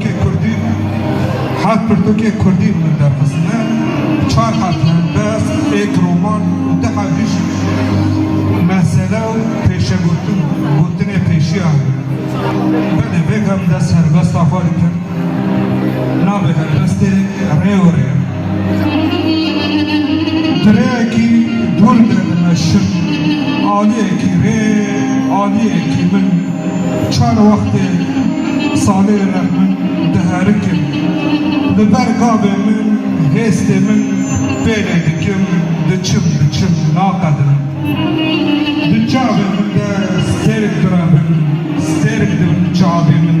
Ke kurdî ne. Heft pirtûkê kurdî li min derxistine, çar heft helbest, êk roman û du heft jî şîîr. Mesele û pêşegotin û gotinê pêşiyan e. Belê bêgam dest helbesta xwe dikim. Navê helbestê Rêwirê ye. Dirêyekî dûr de dimeşim, aliyekî rê, aliyekî min, çar wextê salê re min diherikim, li ber gavê min, hêstê min pêlê dikim, diçim, diçim, naqedinim. Di çavê min de stêrk direvin, stêrk dibin çavê min.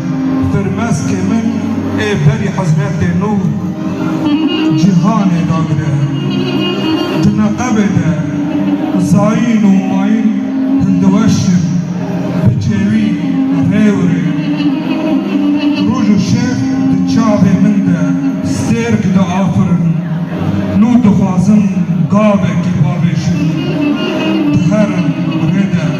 Firmezkê min ê berî hizmetê nû cîhanê dagire. Di neqebê de zayîn û mayîn hindiweş in, bi çêwî rêwirê. Roj û şev di çavê min de stêrk diafirin. Nû dixwazim gavekî bavêjim. Diherim rê de.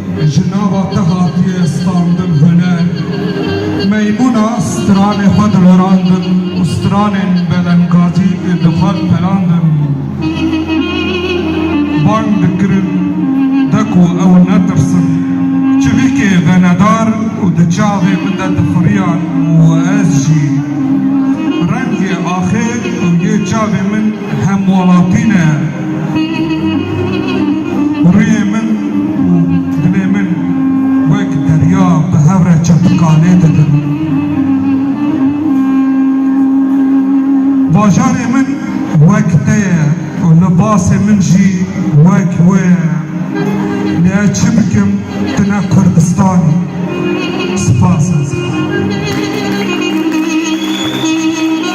Ji nava te hatiye standin huner, meymûna stranê xwe dilerandin û stranên belengazî ê di xwe pelandin bang dikirin de ku ew netirsin. Çivîkê venedar û di çavê min de dixuriyan û ez jî rengê axê û yê çavê min, Hemwelatî ne rûyê min û dilê min wek derya bi hev re çepikalê didin. Bajarê min wek te ye û libasê min jî wek wê ye. Lê ez çi bikim tu ne Kurdistan î. Spas ez.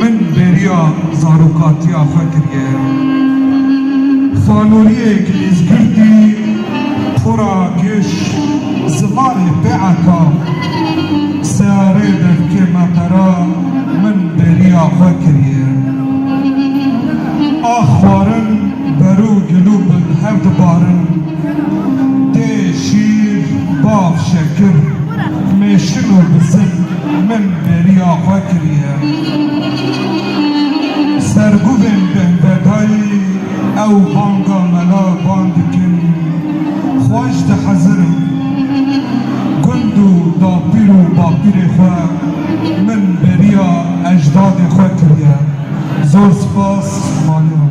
Min bêriya zarokatiya xwe kiriye. Xanûriyek Îzgirtî xwera kêş zimanê pêeka searê devkê me qera min bêriya xwe kiriye. A xwarin berû gilû bin hev dibarin dê şîr, bav, şekir, mêşin û bizin. Min bêriya xwe kiriye. Serguvên Bendedayî ew banga mela van dikin, Xweş dihezirim. Gund û dapîr û bapîrê xwe min bêriya ejdadê xwe kiriye. Zor spas Maliyan.